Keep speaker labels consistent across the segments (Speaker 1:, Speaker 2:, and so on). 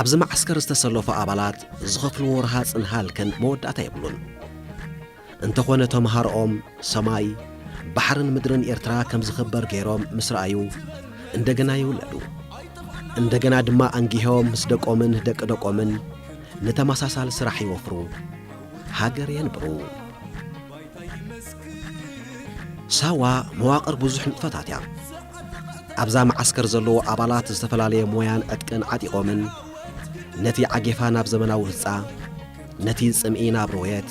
Speaker 1: ኣብዚ መዓስከር ዝተሰለፉ ኣባላት ዝኸፍልዎ ረሃፅን ሃልክን መወዳእታ የብሉን። እንተኾነ ተምሃሮኦም ሰማይ ባሕርን ምድርን ኤርትራ ከም ዝኽበር ገይሮም ምስ ረኣዩ እንደገና ይውለዱ እንደገና ድማ ኣንጊሆም ምስ ደቆምን ደቂ ደቆምን ንተመሳሳሊ ስራሕ ይወፍሩ፣ ሃገር የንብሩ። ሳዋ መዋቕር ብዙሕ ንጥፈታት እያ። ኣብዛ መዓስከር ዘለዎ ኣባላት ዝተፈላለየ ሞያን ዕጥቅን ዓጢቖምን ነቲ ዓጌፋ ናብ ዘመናዊ ህጻ፣ ነቲ ጽምኢ ናብ ሮየት፣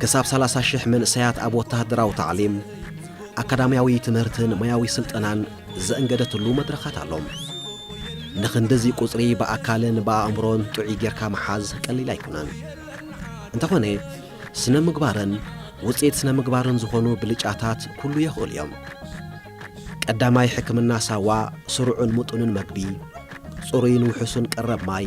Speaker 1: ክሳብ ሰላሳ ሽሕ መንእሰያት ኣብ ወተሃደራዊ ታዕሊም፣ ኣካዳምያዊ ትምህርትን ሞያዊ ስልጠናን ዘእንገደትሉ መድረኻት ኣሎ። ንኽንድዚ ቁጽሪ ብኣካልን ብኣእምሮን ጥዑይ ጌርካ ምሓዝ ቀሊል ኣይኮነን። እንተኾነ ስነ ምግባርን ውጽኢት ስነ ምግባርን ዝኾኑ ብልጫታት ኩሉ የኽእሉ እዮም። ቀዳማይ ሕክምና ሳዋ ስሩዕን ምጡንን መግቢ፣ ጽሩይን ውሑሱን ቀረብ ማይ፣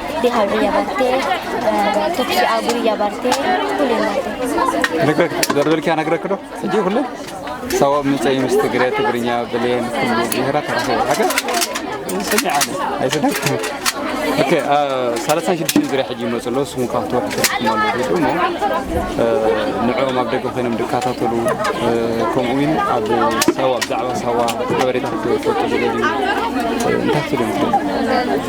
Speaker 2: ደርበልኪያ
Speaker 3: ነግረክ ዶ ሕጂ ኩሉ ሰቦም ምፀይ ምስ ትግረ ትግርኛ ብሌን ኩሉ ብሄራት ተረኸቡ ሓገር ሰሚዕ ኣለ ኣይሰደክ ኦኬ ሰላሳን ሽዱሽተን ዙሪያ ሕጂ ይመፁ ኣለዉ ስሙ ካብ ተወርሒ ተረኩም ኣለዉ እሞ ንዕኦም ኣብ ደገ ኮይኖም ዝከታተሉ ከምኡ እውን ኣብ ሳዋ ብዛዕባ ሳዋ ሓበሬታ ክትፈልጡ ዝደልዩ እንታይ ክትብሉ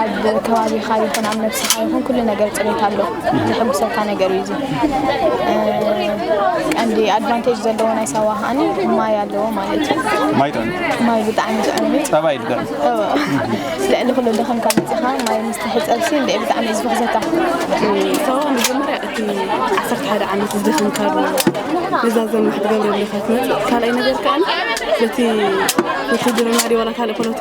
Speaker 4: ኣብ ከባቢኻ ይኹን ኣብ ነብስኻ ይኹን ኩሉ ነገር ፅሬት ኣሎ ዘሐጉሰካ ነገር እዩ ቀንዲ ኣድቫንቴጅ ዘለዎ ናይ ሳዋ ከዓኒ ማይ ኣለዎ ማለት እዩ ማይ ጥዕም ማይ ብጣዕሚ ጥዕም እዩ ፀባይ
Speaker 3: ድደም
Speaker 4: ልዕሊ ኩሉ ደኸም ካብ መፅኻ ማይ ምስ ትሕፀብሲ እንደ ብጣዕሚ እዩ ዝፈኽዘካ ሳዋ መጀመርያ
Speaker 5: እቲ ዓሰርተ ሓደ ዓመት ዝደኸም ካብ እዛ ዘማሕ ትገብረልካ ትመፅእ ካልኣይ ነገር ከዓኒ በቲ ውትድርና ድዩ ዋላ ካልእ ፖለቲ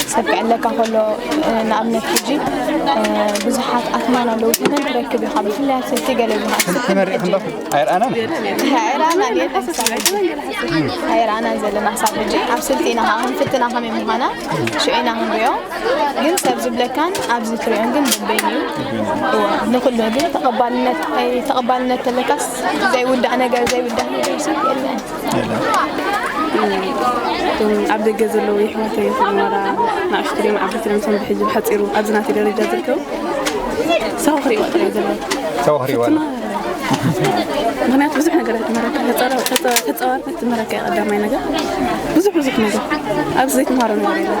Speaker 4: ዝጸግዐለካ ከሎ ንኣብነት ሕጂ ብዙሓት ኣትማን ኣለዉ ተመን ትረክብ ኢኻ ብፍላይ ኣብ ሰልቲ ገለ ኣይርኣናን
Speaker 3: ኣይርኣናን
Speaker 4: ዘለና ክሳብ ሕጂ ኣብ ስልቲ ኢና ከዓ ክንፍትና ከመይ ምዃና ሽዑ ኢና ክንሪኦ ግን ሰብ ዝብለካን ኣብዚ ትሪኦን ግን በበይኑ እዩ ንኩሉ ግን ተቐባልነት ተቐባልነት ተለካስ ዘይውዳእ ነገር ዘይውዳእ ነገር ስልቲ የለን
Speaker 5: እቶም ኣብ ደገ ዘለዉ ይሕዋተይ ይኹን ዋላ ንኣሽቱ ድዮም ዓበይቲ ድዮም እቶም ብሕጂ ብሓጺሩ ኣብዚ ናተይ ደረጃ ዝርከቡ ሳው ክሪእዋ ጥራይ ዘሎ ሳው ክሪእዋ ምክንያቱ ብዙሕ ነገር ትመረካ ተፃዋርነት ትመረካ ቀዳማይ ነገር ብዙሕ ብዙሕ ነገር ኣብዚ ዘይትምሃሮ ነገር የለን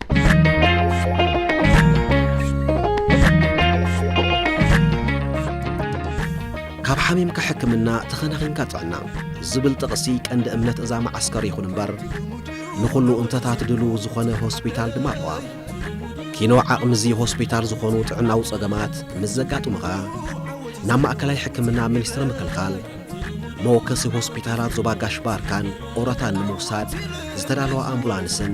Speaker 1: ካብ ሓሚምካ ሕክምና ተኸናኺንካ ጥዕና ዝብል ጥቕሲ ቀንዲ እምነት እዛ መዓስከር ይኹን እምበር ንኹሉ እንተታት ድልው ዝኾነ ሆስፒታል ድማ ኣለዋ ኪኖ ዓቕሚ እዚ ሆስፒታል ዝኾኑ ጥዕናዊ ጸገማት ምስ ዘጋጥሙኻ ናብ ማእከላይ ሕክምና ሚኒስትሪ ምክልኻል መወከሲ ሆስፒታላት ዞባ ጋሽ ባርካን ኦረታን ንምውሳድ ዝተዳለዋ ኣምቡላንስን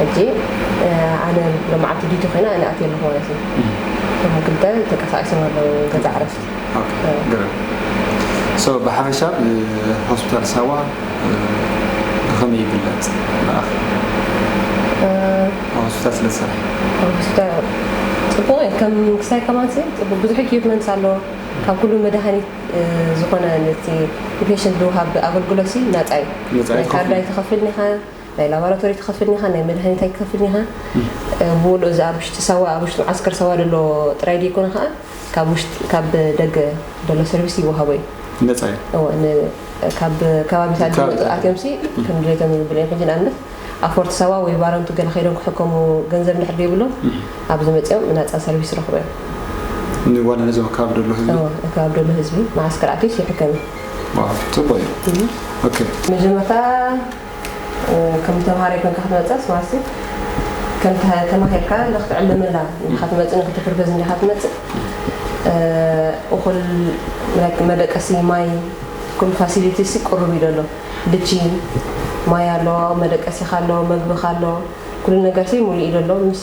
Speaker 6: ሕጂ ኣነ ሎማዓልቲ ዲቲ ኮይና ኣነ ኣትየ ኣለኹ ማለት እዩ እቶም ክልተ ተንቀሳቂሶም ኣለዉ ገዛ ዕረፍቲ
Speaker 3: ሶ ብሓፈሻ ሆስፒታል ሳዋ ብኸመይ ይግለጽ ንኣኺ ሆስፒታል ስለ ዝሰርሐ
Speaker 6: ፅቡቅ እዩ ከም ክሳይ ከማን ፅቡቅ ብዙሕ ኢኩፕመንት ኣለዎ ካብ ኩሉ መድሃኒት ዝኾነ ነቲ ንፔሽንት ዝውሃብ ኣገልግሎት ናፃ እዩ ናይ ካርድ ኣይትኸፍልን ኢኻ ናይ ላባራቶሪ ትኸፍል ኒኻ ናይ መድሃኒት ኣይትከፍልን ኢኻ ብውልኡ እዚ ኣብ ውሽጢ ሳዋ ኣብ ውሽጢ መዓስከር ሳዋ ደሎ ጥራይ ደይኮነ ከኣ ካብ ውሽጢ ካብ ደገ ደሎ ሰርቪስ ይወሃቦ እዩ ነጻ እዩ እወ
Speaker 3: ን
Speaker 6: ካብ ከባቢታት ካብ- ዝመጹ ኣትዮምሲ ከም ድሌቶም ይብሉ እዮም ሕጂ ንኣብነት ኣብ ፎርት ሳዋ ወይ ባረንቱ ገለ ከይዶም ክሕከሙ ገንዘብ እንድሕር ደይብሎም ኣብዚ መጺኦም ናጻ ሰርቪስ ይረኽቡ እዮም ንዋላ
Speaker 3: ነዚ ኣብ ከባቢ ደሎ ህዝቢ እወ እቲ ኣብ ደሎ ህዝቢ
Speaker 6: መዓስከር ኣትዩስ ይሕከም እዩ ዋው
Speaker 3: ጽቡቅ እዩ ኦኬ መጀመርታ
Speaker 6: ከም ተምሃራይ ኮንካ ክትመጽእስ ዋሲ ከም ተማሂርካ እንዳ ክትዕልመላ እንዲኻ ትመጽእ ንክትብርበዝ እንዲኻ ትመጽእ እኹል ላይክ መደቀሲ ማይ ኩሉ ፋሲሊቲሲ ቅሩብ እዩ ደሎ ድቺ ማይ ኣሎ መደቀሲኻ ኣሎ መግብኻ ኣሎ ኩሉ ነገርሲ ሙሉእ እዩ ደሎ ምስ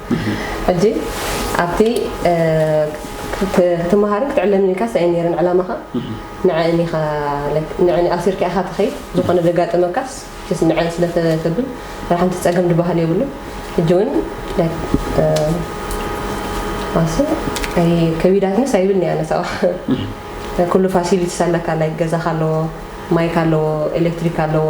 Speaker 6: ሕጂ ኣብቲ ክትመሃርን ክትዕለምን ኢልካስ ኣይ ነይረን ዕላማኻ ንዐን ኢኻ like ንዐን ኣሲርካ ኢኻ ትኸይድ ዝኾነ ዘጋጠመካስ just ንዐን ስለ ተብል ዋላ ሓንቲ ጸገም ድበሃል የብሉን ሕጂ ውን like ኣሰይ ኣይ ከቢዳትንስ ኣይብልኒ ኣነ ሰባ ኩሉ ፋሲሊቲስ ኣለካ ላይክ ገዛኻ ኣለዎ ማይካ ኣለዎ ኤሌክትሪክ ኣለዎ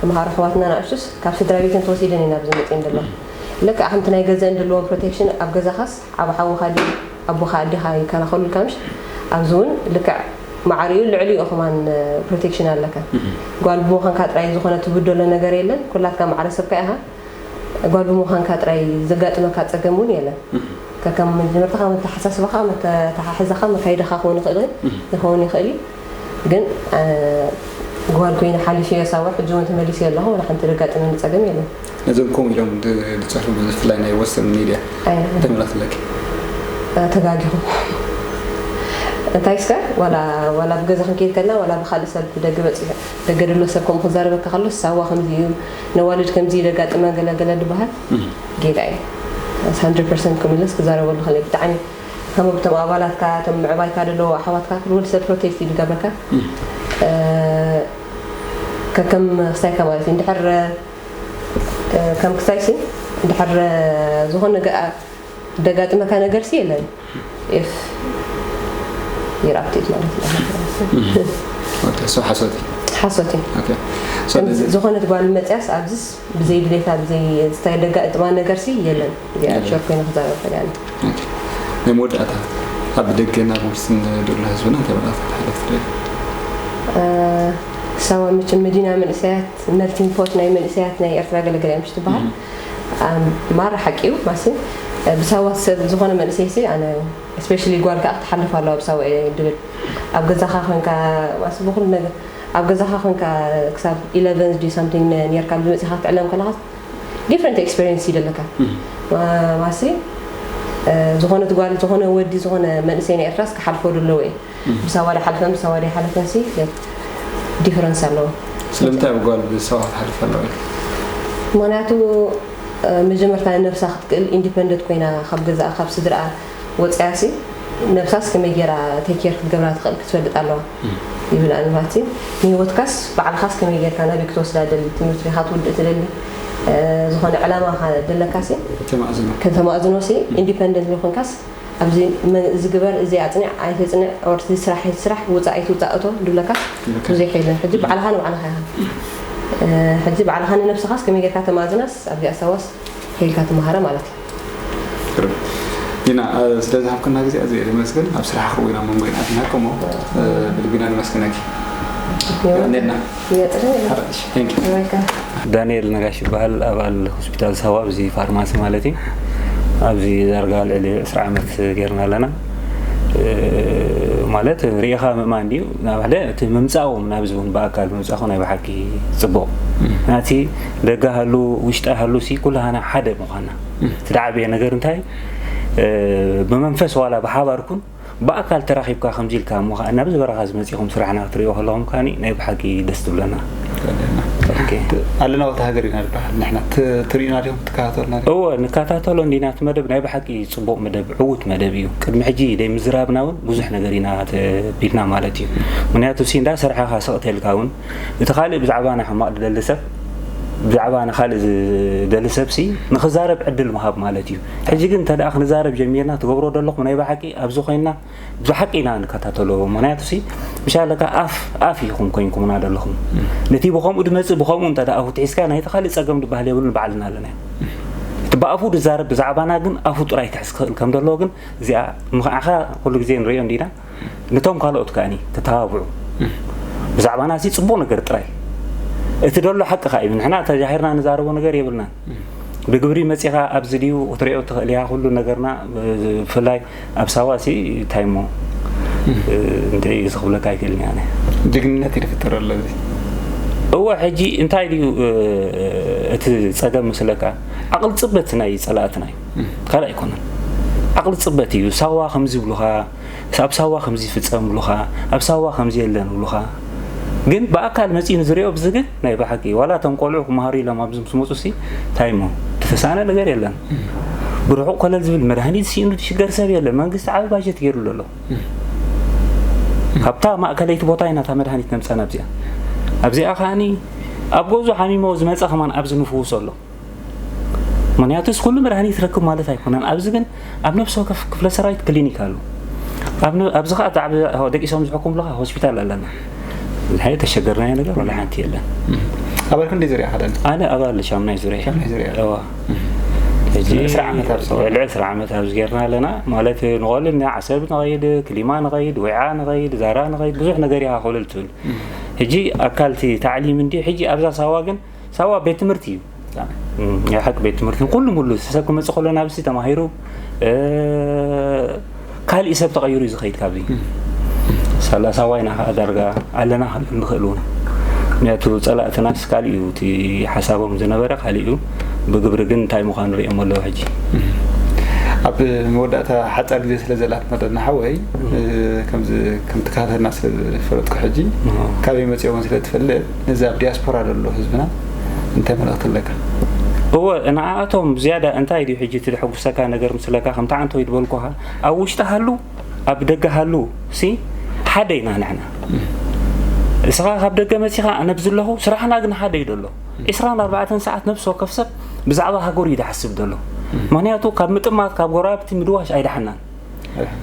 Speaker 6: ተምሃሮ ኣሕዋትና ንኣሽቱስ ካብ ስድራቤተን ተወሲደን እየን ኣብዚ መጺኤን ዘለዋ። ልክዕ ከምቲ ናይ ገዘኣን ድልዎም ፕሮቴክሽን ኣብ ገዛኻስ ዓቢ ሓውኻ ድዩ ኣቦኻ ኣዴኻ ይከላኸሉልካ ምሽ ኣብዚ እውን ልክዕ ማዕሪኡን ልዕሊኡ ከማን ፕሮቴክሽን ኣለካ። ጓል ብምዃንካ ጥራይ ዝኾነ ትብደሎ ነገር የለን ኩላትካ ማዕረ ሰብካ ኢኻ። ጓል ብምዃንካ ጥራይ ዘጋጥመካ ጸገም እውን የለን። ከከም መጀመርታኻ፣ መተሓሳስባኻ፣ መተሓሕዛኻ፣ መካይዳኻ ክውን ይኽእል ይኸውን ይኽእል እዩ። ግን ጓል ኮይነ ሓሊፈዮ ሳዋ ሕጂ እውን ተመሊሰዮ ኣለኹ ዋላ ሓንቲ ዘጋጠመኒ ፀገም የለን። ነዞም ከምኡ ኢሎም
Speaker 3: ዝፅሕፉ ብፍላይ ናይ ወሰን ሚድያ እንታይ መልእኽቲ ኣለኪ?
Speaker 6: ተጋጊኹም እንታይ እስከ ዋላ ዋላ ብገዛ ክንከይድ ከለና ዋላ ብካልእ ሰብ ብደገ በፂሑ ደገ ዘሎ ሰብ ከምኡ ክዛረበካ ከሎ ሳዋ ከምዚ እዩ ነዋልድ ከምዚ እዩ ዘጋጥመን ገለ ገለ ዝበሃል ጌጋ እዩ። ኣስ ሃንድረድ ፐርሰንት ክምለስ ክዛረበሉ ከለይ ብጣዕሚ ከም እቶም ኣባላትካ እቶም ምዕባይካ ደለዎ ኣሕዋትካ ኩሉ ወዲ ሰብ ፕሮቴስት እዩ ዝገብረካ ከከም ክስታይካ ማለት እዩ እንድሕር ከም ክስታይሲ እንድሕር ዝኾነ ነገር ደጋጥመካ ነገርሲ የለን ኢፍ ይራብቲት ማለት እዩ ሓሶት
Speaker 3: ሓሶት እዩ
Speaker 6: ዝኾነት ጓል መፅያስ ኣብዚስ ብዘይ ድሌታ ብዘይ ዝተደጋጥማ ነገርሲ የለን እዚኣ ሸር ኮይነ ክዛረብ ይኽእል እያ ናይ
Speaker 3: መወዳእታ ኣብ ደገ ናብ ውርሲ ንደሎ ህዝብና እንታይ መልእኽቲ ክተሕልፍ ትደሊ
Speaker 6: ሳዋ መቸም መዲና መንእሰያት መልቲንግ ፖት ናይ መንእሰያት ናይ ኤርትራ ገለገለ እዮም ትበሃል ማራ ሓቂ እዩ ማሲ ብሳዋ ሰብ ዝኾነ መንእሰይሲ ኣነ ስፔሻሊ ጓል ከዓ ክትሓልፍ ኣለዋ ብሳዋ እየ ድብል ኣብ ገዛኻ ኮንካ ማሲ ብኩሉ ነገር ኣብ ገዛኻ ኮንካ ክሳብ ኢለቨን ድዩ ሳምቲንግ ን- ኔርካ ብ መጺኻ ክትዕለም ከለኻስ ዲፍረንት ኤክስፐርየንስ እዩ ደለካ ማ- ማሲ እ፣ ዝኾነት ጓል ዝኾነ ወዲ ዝኾነ መንእሰይ ናይ ኤርትራስ ክሓልፎ ደለዎ እዩ ምስ ኣዋልድ ሓለፈን ምስ ኣዋልድ ኣይሓለፈንሲ ዲፍረንስ ኣለዎ። ስለምንታይ ኣብ ጓል
Speaker 3: ብሰባ ክሓልፍ ኣለዎ ኢልኪ? ምኽንያቱ
Speaker 6: እ፣ መጀመርታ ንነብሳ ክትክእል ኢንዲፐንደት ኮይና ካብ ገዛኣ ካብ ስድርኣ ወጺኣሲ ነብሳስ ከመይ ጌራ ቴክ ኬር ክትገብራ ትኽእል ክትፈልጥ ኣለዋ። ይብል ኣልማቲ ንህይወትካስ ባዕልኻስ ከመይ ጌርካ ናብይ ክትወስዳ ደሊ ትምህርቲ ዲኻ ትውድእ ትደሊ ዝኾነ ዕላማ ደለካሲ ከተማእዝኖ ሲ ኢንዲፐንደንት ዘይኮንካስ ኣብዚ እዚ ግበር እዚ ኣጽንዕ ኣይተጽንዕ ኦር እዚ ስራሕ ኣይትስራሕ ውጻእ ኣይትውጻእ እቶ ድብለካስ ብዙሕ የለን ሕጂ ባዕልኻ ንባዕልኻ ኢኻ ሕጂ ባዕልኻ ንነብስኻስ ከመይ ጌርካ ተማእዝናስ ኣብዚኣ ሳዋስ ሄልካ ትመሃራ ማለት እዩ
Speaker 3: ኢና ስለ ዝሃብክና ግዜ ኣዝየ እየ ዘመስግን ኣብ ስራሕኺ እውን ኣብ መንጎ ኢና ዝምህር ከሞ ብልቢ ኢና ነመስግነኪ ቀኒልና
Speaker 7: ዳንኤል ነጋሽ ይበሃል ኣባል ሆስፒታል ሳዋ ኣብዚ ፋርማሲ ማለት እዩ ኣብዚ ዳርጋ ልዕሊ 20 ዓመት ጌርና ኣለና ማለት ሪኢኻ ምእማን ድዩ ናብ ሓደ እቲ ምምፃዎም ናብዚ እውን ብኣካል ምምፃኹ ናይ ብሓቂ ፅቡቕ ናቲ ደጋ ሃሉ ውሽጣ ሃሉ ሲ ኩላሃና ሓደ ምዃና እቲ ዝዓበየ ነገር እንታይ እዩ? ብመንፈስ ዋላ ብሓባር ኩን ብኣካል ተራኺብካ ከምዚ ኢልካ እሞ ከኣ ናብዚ በረኻ እዚ መጺኹም ስራሕና ክትርእይዎ ከለኹም ከኣ ናይ ብሓቂ ደስ ትብለና። ኣለናዎት
Speaker 3: ሃገር ኢና ንበሃል ንሕና ትርእዩና ዲኹም ትከታተሉና ዲኹም? እወ ንከታተሎ
Speaker 7: እንዲና እቲ መደብ ናይ ብሓቂ ጽቡቕ መደብ ዕዉት መደብ እዩ። ቅድሚ ሕጂ ደይምዝራብና እውን ብዙሕ ነገር ኢና ተቢልና ማለት እዩ። ምክንያቱ ሲ እንዳ ሰርሓኻ ስቕ ተልካ እውን እቲ ካልእ ብዛዕባና ሕማቕ ዝደሊ ሰብ ብዛዕባ ንኻልእ ዝደሊ ሰብሲ ንክዛረብ ዕድል ምሃብ ማለት እዩ ሕጂ ግን እንተ ክንዛረብ ጀሚርና ትገብሮ ዘለኹም ናይ ብሓቂ ኣብዚ ኮይንና ብሓቂ ኢና ንከታተሎ ምክንያቱ ሲ ምሻለካ ኣፍ ኣፍ ኢኹም ኮይንኩምና ዘለኹም ነቲ ብከምኡ ድመፅእ ብከምኡ እንተ ኣፉ ትሒዝካ ናይቲ ካልእ ፀገም ድበሃል የብሉን ባዕልና ኣለና እቲ ብኣፉ ድዛረብ ብዛዕባና ግን ኣፉ ጥራይ ክሕዝ ክኽእል ከም ዘለዎ ግን እዚኣ ምክዓኻ ኩሉ ግዜ ንሪኦ እንዲና ንቶም ካልኦት ከኣ ተተባብዑ ብዛዕባና እዚ ጽቡቕ ነገር ጥራይ እቲ ደሎ ሓቂ ከ እዩ ንሕና ተጃሂርና ንዛረቦ ነገር የብልናን ብግብሪ መጺኻ ኣብዚ ድዩ ክትሪኦ ትኽእል እያ ኩሉ ነገርና ብፍላይ ኣብ ሳዋ ሲ እንታይ እሞ እንታይ እዩ ዝኽብለካ ኣይክእልን እያ ጅግንነት እዩ ዝፍጠር
Speaker 3: ኣሎ እዚ እወ
Speaker 7: ሕጂ እንታይ ድዩ እቲ ጸገም ምስለካ ዓቕል ጽበት ናይ ጸላእትና እዩ ካልእ ኣይኮነን ዓቕሊ ጽበት እዩ ሳዋ ከምዚ ብሉኻ ኣብ ሳዋ ከምዚ ይፍጸም ብሉኻ ኣብ ሳዋ ከምዚ የለን ብሉኻ ግን ብኣካል መጺኡ ንዝሪኦ ብዚ ግን ናይ ብሓቂ ዋላ እቶም ቆልዑ ክመሃሩ ኢሎም ኣብዚ ምስ መፁ ሲ እንታይ እሞ ተተሳእነ ነገር የለን ብርሑቕ ኮለል ዝብል መድሃኒት ሲእኑ ዝሽገር ሰብ የለን መንግስቲ ዓብ ባጀት ገይሩሉ ኣሎ ካብታ ማእከለይቲ ቦታ ኢና እታ መድሃኒት ነምፀና ኣብዚኣ ኣብዚኣ ከዓኒ ኣብ ገዙ ሓሚሞ ዝመፀ ከማን ኣብዚ ንፍውሶ ኣሎ ምክንያቱስ ኩሉ መድሃኒት ረክብ ማለት ኣይኮነን ኣብዚ ግን ኣብ ነብሲ ወከፍ ክፍለ ሰራዊት ክሊኒክ ኣሉ ኣብዚ ከዓ ብዛዕባ ደቂሶም ዝሕኩምሉካ ሆስፒታል ኣለና ንሓይ ተሸገርናዮ ነገር ወላ ሓንቲ የለን ኣባል ክንደይ
Speaker 3: ዙርያ ከደን
Speaker 7: ኣነ
Speaker 3: ኣባል ሻምናይ ዙርያ ሻምናይ ዙርያ ልዕሊ ዕስራ ዓመት ኣብዚ ጌርና
Speaker 7: ኣለና ማለት ንቐሉ ዓሰብ ንኸይድ ክሊማ ንኸይድ ወይዓ ንኸይድ ዛራ ንኸይድ ብዙሕ ነገር ይሃኸሉ ትብል ሕጂ ኣካልቲ ታዕሊም እንዲ ሕጂ ኣብዛ ሳዋ ግን ሳዋ ቤት ትምህርቲ እዩ ናይ ሓቂ ቤት ትምህርቲ ንኩሉ ሙሉ ሰብ ክመፅ ከሎ ናብዚ ተማሂሩ ካልእ ሰብ ተቐይሩ እዩ ዝኸይድ ካብዚ ሳላ ሳዋ ኢና ከዓ ዳርጋ ኣለና ክንብል ንኽእል እውን ምክንያቱ ፀላእትናስ ካልእ እዩ እቲ ሓሳቦም ዝነበረ ካልእ እዩ ብግብሪ ግን እንታይ ምዃኑ ሪኦም ኣለዉ ሕጂ
Speaker 3: ኣብ መወዳእታ ሓፃር ግዜ ስለ ዘላት መጠና ሓወይ ከምዚ ከምቲ ካፈና ስለዝፈለጥኩ ሕጂ ካበይ መፅኦምን ስለትፈልጥ ነዚ ኣብ ዲያስፖራ ዘሎ ህዝብና እንታይ መልእኽቲ ኣለካ? እወ
Speaker 7: ንዓኣቶም ዝያዳ እንታይ ድዩ ሕጂ እቲ ዘሐጉሰካ ነገር ምስለካ ከምቲ ዓንተወይ ዝበልኩኻ ኣብ ውሽጢ ሃሉ ኣብ ደገ ሃሉ ሲ ሓደ ኢና ንሕና እስኻ ካብ ደገ መጺኻ ኣነ ብዚ ኣለኹ ስራሕና ግን ሓደ እዩ ደሎ 24 ሰዓት ነብሲ ወከፍ ሰብ ብዛዕባ ሃገሩ እዩ ዝሓስብ ደሎ ምክንያቱ ካብ ምጥማት ካብ ጎረባብቲ ምድዋሽ ኣይደሓናን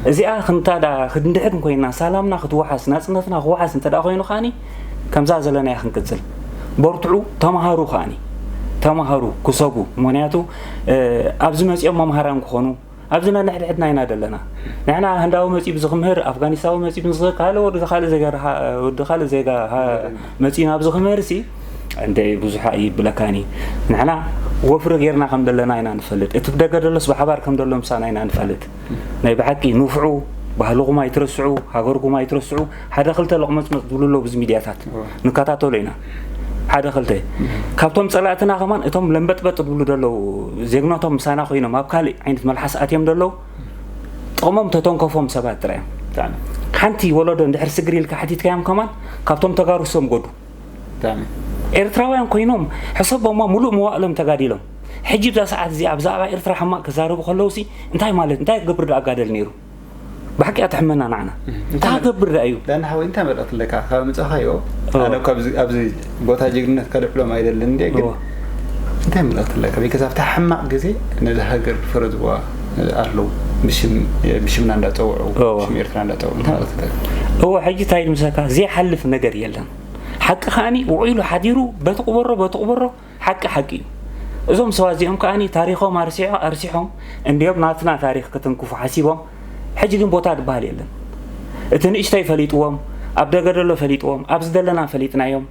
Speaker 7: እዚኣ ክንታ ዳ ክንድሕን ኮይና ሳላምና ክትወሓስ ናጽነትና ክወሓስ እንተ ዳ ኮይኑ ከኣኒ ከምዛ ዘለናያ ክንቅጽል በርትዑ ተማሃሩ ከኣኒ ተማሃሩ ክሰቡ ምክንያቱ ኣብዚ መጺኦም መምሃራን ክኾኑ ኣብዚ ነንሕድሕድና ኢና ዘለና ንሕና ህንዳዊ መጺኡ ብዚ ክምህር ኣፍጋኒስታዊ መጺኡ ብዚ ካልእ ወዲ ካልእ ዜጋ ወዲ ካልእ ዜጋ መጺኡ ናብዚ ክምህር ሲ እንተ ብዙሓ እይብለካን እዩ ንሕና ወፍሪ ጌርና ከም ደለና ኢና ንፈልጥ እቲ ብደገ ደሎስ ብሓባር ከም ደሎ ምሳና ኢና ንፈልጥ ናይ ብሓቂ ንፍዑ ባህልኹም ኣይትረስዑ ሃገርኩም ኣይትረስዑ ሓደ ክልተ ለቕመፅመፅ ዝብሉ ኣሎ ብዚ ሚድያታት ንከታተሎ ኢና ሓደ ክልተ ካብቶም ፀላእትና ከማን እቶም ለምበጥበጥ ዝብሉ ደለው ዜግነቶም ምሳና ኮይኖም ኣብ ካልእ ዓይነት መልሓስ ኣትዮም ደለው ጥቕሞም ተተንከፎም ሰባት ጥራዮም ሓንቲ
Speaker 3: ወለዶ
Speaker 7: እንድሕር ስግሪ ኢልካ ሓቲትካዮም ከማን ካብቶም ተጋሩ ሰምጎዱ ጋና።
Speaker 3: ኤርትራውያን
Speaker 7: ኮይኖም ሕሰቦማ ሙሉእ መዋእሎም ተጋዲሎም ሕጂ ኣብዛ ሰዓት እዚኣ ብዛዕባ ኤርትራ ሕማቅ ክዛረቡ ከለውሲ እንታይ ማለት እንታይ ክገብር ደኣ ጋደል ነይሩ ብሓቂ ኣትሕመና ናዕና እንታይ ክገብር ደኣ እዩ ዳና ሓወይ እንታይ መልእክቲ
Speaker 3: ኣለካ ካብ ምጻኻዮ ኣነ ካብዚ ኣብዚ ቦታ ጅግንነት ከልዕሎም ኣይደልን እንዴ ግን እንታይ መልእክቲ ኣለካ ቢከዝ ኣብታ ሕማቅ ግዜ ነዚ ሃገር ፈረዝዋ ኣለዉ ብሽምና እንዳጸውዑ ሽም ኤርትራ እንዳጸውዑ እንታይ መልእክቲ ኣለካ እወ
Speaker 7: ሕጂ እንታይ ምሰካ ዘይሓልፍ ነገር የለን ሓቂ ከዓኒ ውዒሉ ሓዲሩ በቲ ቁበሮ በቲ ቁበሮ ሓቂ ሓቂ እዩ እዞም ሰባት እዚኦም ከዓኒ ታሪኾም ኣርሲዖ ኣርሲሖም እንዲዮም ናትና ታሪኽ ክትንክፉ ሓሲቦም ሕጂ ግን ቦታ ዝበሃል የለን እቲ ንእሽተይ ፈሊጥዎም ኣብ ደገ ደሎ ፈሊጥዎም ኣብ ዝደለና ፈሊጥናዮም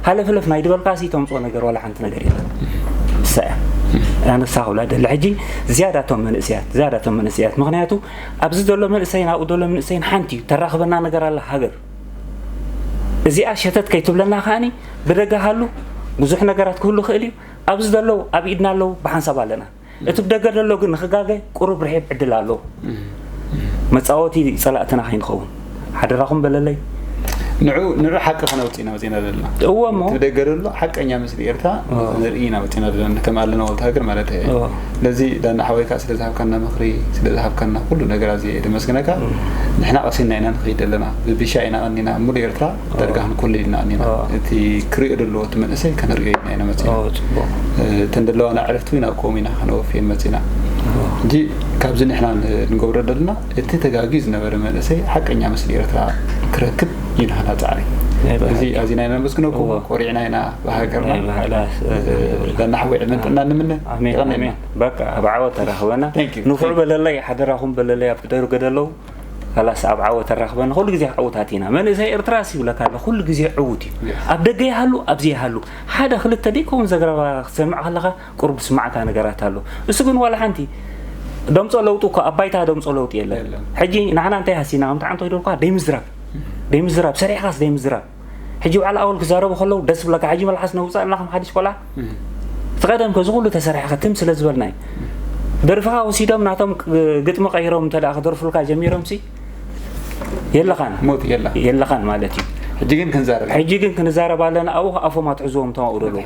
Speaker 7: ሃለፍለፍ ናይ ድበልካሲ ተምፅኦ ነገር ዋላ ሓንቲ ነገር የለን ንሳ እያ ኣነሳ ክብላ ደለ ሕጂ ዝያዳቶም መንእሰያት ዝያዳቶም መንእሰያት ምክንያቱ ኣብዚ ዘሎ መንእሰይን ኣብኡ ዘሎ መንእሰይን ሓንቲ እዩ ተራኽበና ነገር ኣላ ሃገር እዚኣ ሸተት ከይትብለና ከዓኒ ብደገ ሃሉ ብዙሕ ነገራት ክህሉ ክእል እዩ ኣብዚ ዘለዉ ኣብ ኢድና ኣለዉ ብሓንሳብ ኣለና እቲ ብደገ ዘሎ ግን ንክጋገ ቁሩብ ርሒብ ዕድል ኣለዎ መፃወቲ ፀላእትና ከይንኸውን ሓደራኹም በለለይ ንዑ
Speaker 3: ንዑ ሓቂ ከነውፅ ኢና ወፂና ዘለና እዎ እሞ ደገ
Speaker 7: ዘሎ ሓቀኛ
Speaker 3: ምስሊ ኤርትራ ንርኢ ኢና ወፂና ዘለና ከም ኣለና ወልተ ሃገር ማለት እዩ ስለዚ ዳኒ ሓወይ ካኣ ስለ ዝሃብካና ምክሪ ስለ ዝሃብካና ኩሉ ነገር ኣዝየ እየ ደመስግነካ ንሕና ቀሲንና ኢና ንከይድ ዘለና ብቢሻ ኢና ቀኒና ሙሉእ ኤርትራ ደርጋ ክንኩልል ኢና ቀኒና እቲ ክሪኦ ደለዎ እቲ መንእሰይ ከንሪኦ ኢና ኢና መጺና እተን ደለዋና ኣዕርፍቲ እውን ኣብ ቅውም ኢና ከነወፍየን መጺና እንጂ ካብዚ ንሕና ንገብሮ ደለና እቲ ተጋግዩ ዝነበረ መንእሰይ ሓቀኛ ምስሊ ኤርትራ ክረክብ እዩ ንህና ጻዕሪ እዚ ኣዚና ኢና ነመስግነኩም ኮሪዕና ኢና ሃገርና ናሕዊ ዕድመን ጥዕና ንምነ ይቀነልና
Speaker 7: በቃ ኣብ ዓወት ተራኽበና ንፉዕ በለለይ ሓደራኹም በለለይ ኣብ ደርገ ደለው ላስ ኣብ ዓወት ተራኽበና ኩሉ ግዜ ዓውታት ኢና መንእሰይ ኤርትራ ሲ ይብለካ ኣሎ ኩሉ ግዜ ዕውት እዩ ኣብ ደገ ይሃሉ ኣብዚ ይሃሉ ሓደ ክልተ ደይከውን ዘገረባ ክትሰምዕ ከለኻ ቁርብ ስማዕካ ነገራት ኣሎ እሱ ግን ዋላ ሓንቲ ደምፆ ለውጢ እኮ ኣብ ባይታ ደምፆ ለውጢ የለን ሕጂ ንዓና እንታይ ሃሲና ከምቲ ዓንቶ ይደልኳ ደይምዝራብ ደይምዝራብ ሰሪሕካስ ደይምዝራብ ሕጂ በዓል ኣወል ክዛረቡ ከለዉ ደስ ብለካ ሕጂ መልሓስ ነውፀኣልና ከም ሓዲሽ ቆልዓ እቲ ቀደም ከዚ ኩሉ ተሰሪሐ ክትም ስለ ዝበልና እዩ ደርፍኻ ወሲዶም ናቶም ግጥሚ ቀይሮም እንተ ክደርፉልካ ጀሚሮም ሲ የለኻን ሞት የላ የለኻን
Speaker 3: ማለት
Speaker 7: እዩ ሕጂ ግን ክንዛረብ ሕጂ ግን ክንዛረብ ኣለና ኣብኡ ኣፎም ኣትሕዝዎም እቶም ኣብኡ ደለዉ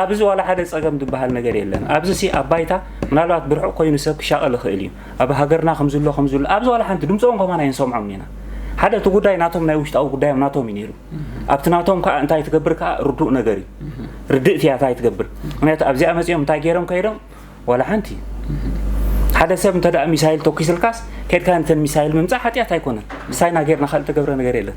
Speaker 3: ኣብዚ
Speaker 7: ዋላ ሓደ ፀገም ዝበሃል ነገር የለን ኣብዚ ሲ ኣብ ባይታ ምናልባት ብርሑቕ ኮይኑ ሰብ ክሻቐል ይኽእል እዩ ኣብ ሃገርና ከምዝሎ ከምዝሎ ኣብዚ ዋላ ሓንቲ ድምጾም ከማን ኣይንሰምዖም ኢና ሓደ እቲ ጉዳይ ናቶም ናይ ውሽጣዊ ጉዳዮም ናቶም እዩ ነይሩ ኣብቲ ናቶም ከዓ እንታይ ትገብር ከዓ ርዱእ ነገር እዩ ርድእቲ እያ እንታይ ትገብር ምክንያቱ ኣብዚኣ መፂኦም እንታይ ገይሮም ከይዶም ዋላ ሓንቲ ሓደ ሰብ እንተ ሚሳይል ተኪስልካስ ከድካ ንተን ሚሳይል ምምፃእ ሓጢኣት ኣይኮነን ምሳይና ገይርና ካልእ ተገብረ ነገር የለን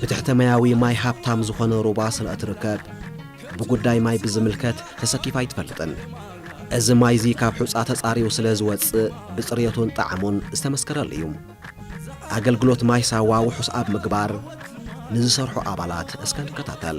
Speaker 1: ብትሕተማያዊ ማይ ሃብታም ዝኾነ ሩባ ስለ እትርከብ፣ ብጉዳይ ማይ ብዝምልከት ተሰኪፋ ኣይትፈልጥን። እዚ ማይ'ዚ ካብ ሑጻ ተጻርዩ ስለ ዝወጽእ ብጽርየቱን ጣዕሙን ዝተመስከረሉ እዩ። ኣገልግሎት ማይ ሳዋ ውሑስ ኣብ ምግባር ንዝሰርሑ ኣባላት እስከ ንከታተል።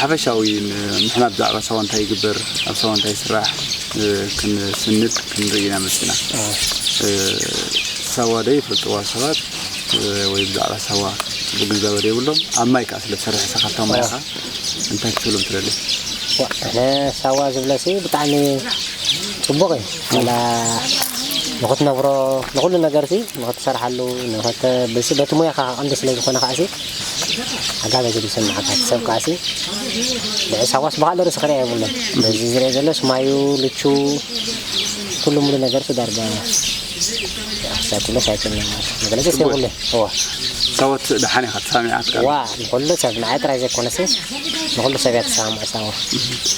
Speaker 3: ሓፈሻዊ ምሕማት ብዛዕባ ሳዋ እንታይ ይግበር ኣብ ሳዋ እንታይ ይስራሕ ክንስንድ ክንርኢ ኢና መጺና። ሳዋ ዶ ይፈልጥዋ ሰባት ወይ ብዛዕባ ሳዋ ጽቡቅ ግንዛበ ዶ የብሎም ኣብ ማይ ከኣ ስለ ትሰርሕ ንስኻ ኣብታ ማይ ኢኻ እንታይ ክትብሎም ትደሊ? ኣነ
Speaker 8: ሳዋ ዝብለሲ ብጣዕሚ ጽቡቅ እዩ ዋላ ንክትነብሮ ንኩሉ ነገርሲ ንክትሰርሓሉ ንክት በቲ ሙያኻ ቀንዲ ስለ ዝኾነ ከኣሲ ኣጋ በዚ ዝስምዓካ ሰብ ከኣሲ ልዕሊ ሳጓስ ብካልእ ርእሲ ክርኣ የብሉን በዚ ዝርኤ ዘሎ ስማዩ ልቹ ኩሉ ሙሉ ነገር ፊ ዳርጋ ሳይኩሎ ሳይክል መግለጺ ደስ የብሉን እዎ ሳወት
Speaker 3: ደሓን ኢኻ ተሳሚዓትካ ዋ ንኩሉ ሰብ
Speaker 8: ንዓይ ጥራይ ዘይኮነሲ ንኩሉ ሰብ እያ ተሰማምዕ ሳወ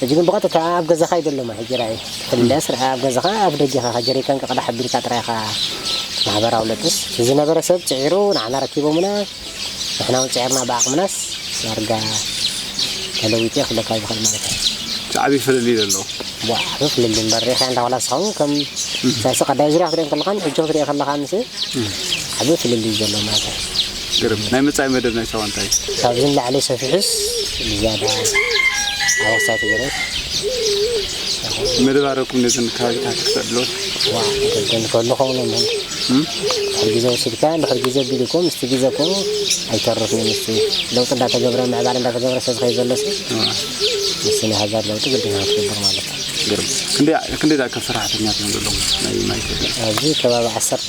Speaker 8: ሕጂ ግን ብቐጥታ ኣብ ገዛኻ እዩ ዘሎ ሕጂ ራኢ ክልለስ ርኣ ኣብ ገዛኻ ኣፍ ደጊኻ ከ ጀሪካን ክቕዳሕ ኣቢልካ ጥራይ ኢኻ ማሕበራዊ ለጥስ ንዝነበረ ሰብ ጽዒሩ ንዓና ረኪቦሙና ንሕና ውን ጽዒርና ብዓቕምናስ ዳርጋ ተለዊጡ እየ ክብለካ ዝኽእል ማለት እየ እቲ
Speaker 3: ዓቢ ፍልልይ ዘሎ። ቧእ ዓቢ ፍልልይ
Speaker 8: እምበር ሪኢኻያ እንዳ ዋላ ንስኻ ውን ከም ሳይሲ ቀዳይ ዙርያ ክትሪኦ ከለኻን ሕጂ ክትሪኦ ከለኻንስ ዓቢ ፍልልይ እዩ ዘሎ ማለት እየ። ግርም ናይ
Speaker 3: መጻኢ መደብ ናይ ሳዋ እንታይ እዩ? ካብዚ ንላዕሊ ሰፊሑስ
Speaker 8: ብዝያዳ ኣበሳ ተገይሩ መደብ
Speaker 3: ኣረኩም ነዘን ከባቢታት ክተዕብለወን ዋዕ ደደን
Speaker 8: ከሉ ከውነ ምን ድሕሪ ግዜ ወሲድካ ድሕሪ ግዜ ቢሉ እኮ ምስቲ ግዜ እኮ ኣይተርፍን ምስቲ ለውጢ እንዳተገብረ ምዕባለ እንዳተገብረ ሰብ ከይ ዘሎ ሲ ምስቲ ናይ ሃገር ለውጢ ግድና ክትገብር ማለት እዩ ግርም ክንደይ
Speaker 3: ክንደይ ዝኣክል ሰራሕተኛታት እዮም ዘለዎም ናይ ማይ ኢትዮጵያ ኣብዚ ከባቢ ዓሰርተ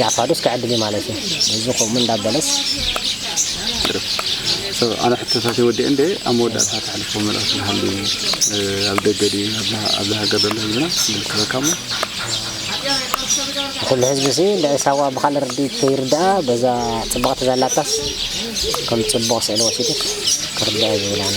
Speaker 8: ጃዕፋዱስ ክዕድል እዩ ማለት እዩ እዚ ከምኡ እንዳበለስ ሰብ
Speaker 3: ኣነ ሕቶታተይ ወዲኤ እንደ ኣብ መወዳእታ ተሕልፎ መልእኽቲ ዝሃልዩ ኣብ ደገ ድዩ ኣብዚ ሃገር ዘሎ ህዝብና ዝምልከተካ እሞ
Speaker 8: ኩሉ ህዝቢ እዚ ልዕሊ ሳዋ ብካልእ ርድኢት ከይርድኣ በዛ ፅብቕቲ ዘላታስ ከም ፅቡቕ ስእሊ ወሲዱ ክርድኣ ዝብል ኣነ